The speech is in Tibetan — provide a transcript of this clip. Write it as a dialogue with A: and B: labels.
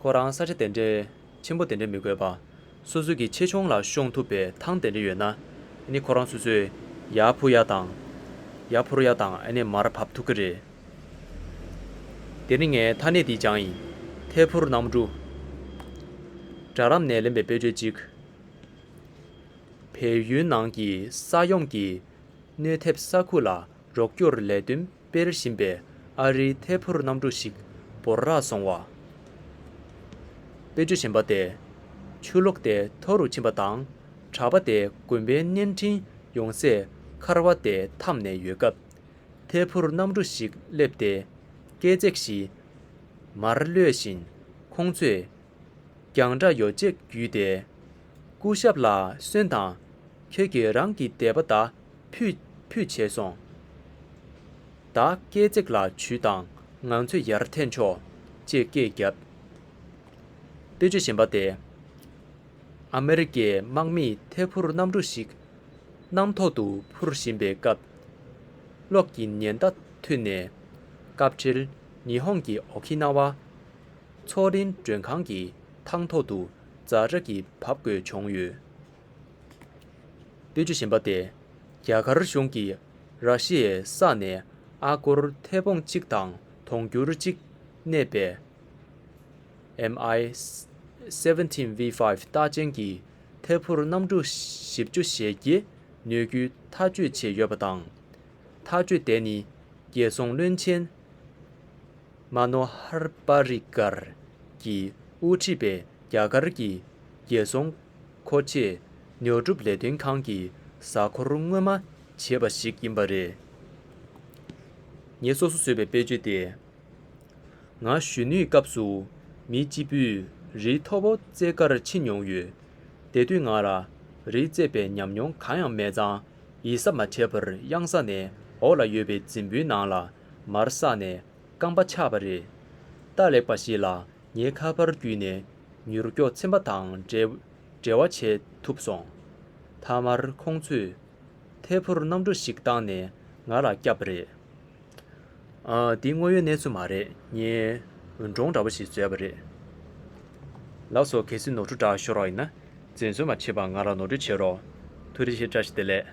A: ཁོ་རང་ས་ཆ་དེ་འདྲའི་ཆེན་པོ་དེ་འདྲ་མི་དགོས་པ། སོ་སོ་གི་ཆེ་ཆུང་ལ་ཤོང་ཐུབ་པའི་ཐང་དེ་འདྲ་ཡོད་ན། ནི་ཁོ་རང་སོ་སོས་ཡ་ཕུ་ཡ་དང། ཡ་ཕུར་ཡ་དང་ནི་མར་བབས་ཐུབ་ཀི་རེད། དེ་ནི་ངའི་མཐའ་སྣེ་འདིའི་བྱང་ཡིན། ཐད་ཕུར་ནམ་གྲུ། སྦྲ་རམ་ནས་ལེན་པའི་དཔེ་བརྗོད་ཅིག། བལ་ཡུལ་ནང་གི་ས་ཡོམ་གྱིས་གནོད་ཐེབས་ས་ཁུལ་ལ་རོགས་སྐྱོར་ལས་དོན་དཔེར་བཞིན་པའི་ཨ་རིའི་ཐད་ཕུར་གནམ་གྲུ་ཞིག་བོར་རག་སོང་བ། དཔེ་བརྗོད་བཞིན་པ་དེ་ཆུ་ལོག་སྟེ་མཐོ་རུ་ཕྱིན་པ་དང་གྲགས་པ་དེ་དགོན་པའི་བརྙན་འཕྲིན་ཡོང་སའི་མཁར་བ་དེ་འཐམ་ནས་ཡོད་སྐབས། ཐད་ཕུར་གནམ་གྲུ་ཞིག་སླེབས་ཏེ་སྐས་བརྩེགས་བཞི་མར་གློད་བཞིན་ཁོང་ཚོས་རྒྱང་གྲགས་ཡོ་བྱད་བརྒྱུད་དེ། སྐུ་ཞབས་ལ་སོན་དང། ཁྱོད་ཀྱིས་རང་གི་དད་པ་དག་ཕུད་ཕུད་བྱས་སོང། བདག་སྐས་བརྩེགས་ལ་བྱུས་དང་ང་ཚོས་ཡར་འཐེན་ཆོག་ཅེས་སྐད་བརྒྱབ། དཔེ་ཆ་གཞན་པ་སྟེ། ཨ་མེ་རི་ཀའི་དམག་མིས་ཐེ་ཕུར་གནམ་གྲུ་ཞིག་གནམ་ཐོག་ཏུ་འཕུར་བཞིན་པའི་སྐབས། གློག་གི་ཉེན་བརྡ་ཐོས་ནས། སྐབས་འཕྲལ་ཉི་ཧོང་གི་ཨོ་ཁི་ན་བ། མཚོ་རིན་མགྲོན་ཁང་གི་ཐང་ཐོག་ཏུ་རྫ་ར་གིས་བབས་དགོས་བྱུང་ཡོད། པོད་བཅུ་བཞི་པ་སྟེ། རྒྱ་གར་གཞུང་གིས་ར་ཤི་ཡའི་ས་ནས་ཨ་སྒོར་ཐེ་བོང་གཅིག་དང་དུང་སྒྱུར་གཅིག་གནས་པའི། MI seventeen V five རྟགས་ཅན་གྱི་ཐེ་ཕུར་གནམ་གྲུ་བཞི་བཅུ་ཞེ་བརྒྱད་ནུས་རྒྱུའི་ཐག་གཅོད་བྱས་ཡོད་པ་དང། ཐག་གཅོད་དེ་ནི་རྒྱལ་སྲུང་བློན་ཆེན། མ་ནོ་ཧར་པ་རིགས་གར་གྱི་དབུ་ཁྲིད་པས་རྒྱ་གར་གྱི་རྒྱལ་སྲུང་མཁོ་བཅས་ཉོ་སྒྲུབ་ལས་དོན་ཁང་གི་གཟའ་འཁོར་སྔོན་མ་བྱས་པ་ཞིག་ཡིན་པ་རེད། ངས་སོ་སོ་བཟོས་པའི་དཔེ་བརྗོད་དེ། ང་གཞོན་ནུའི་སྐབས་སུ་མི་སྤྱི་པུས་རིའི་མཐོ་པོ་རྩེད་ཀར་ཕྱིན་མྱོང་ཡོད། དེ་དུས་ང་ལ་རི་རྩེད་པའི་ཉམས་མྱོང་གང་ཡང་མེད་ཙང་ཡིད་གཟབ་མ་བྱས་པར་གཡང་ས་ནས་འོག་ལ་ཡོད་པའི་རྫིང་བུའི་ནང་ལ་མར་བསགས་ནས་རྐང་པ་ཆག་པ་རེད། རྟ་ལེགས་པ་ཞིག་ལ་ངའི་ཁ་པར་བརྒྱུད་ནས་མྱུར་སྐྱོག་ཚིམ་པ་དང་འབྲེལ་བ་བྱེད་ཐུབ་སོང། མཐའ་མར་ཁོང་ཚོས་ཐད་འཕུར་གནམ་གྲུ་ཞིག་བཏང་ནས་ང་ལ་བསྐྱབས་པ་རེད། འདི་དངོས་ཡོད་གནས་ཚུལ་མ་རེད་ངས་འབྲོང་འདྲ་པོ་ཞིག་བཟོས་པ་རེད། ལགས་སོ་གལ་སྲིད་ནོར་འཁྲུལ་བསྒྲགས་ཤོར་བ་ཡིན་ན། འཛེམ་ཟོན་མ་བྱེད་པར་ང་ལ་ནོར་འཁྲུལ་བྱེད་རོགས། ཐུགས་རེ་ཆེ་བཀྲ་ཤིས་བདེ་ལེགས།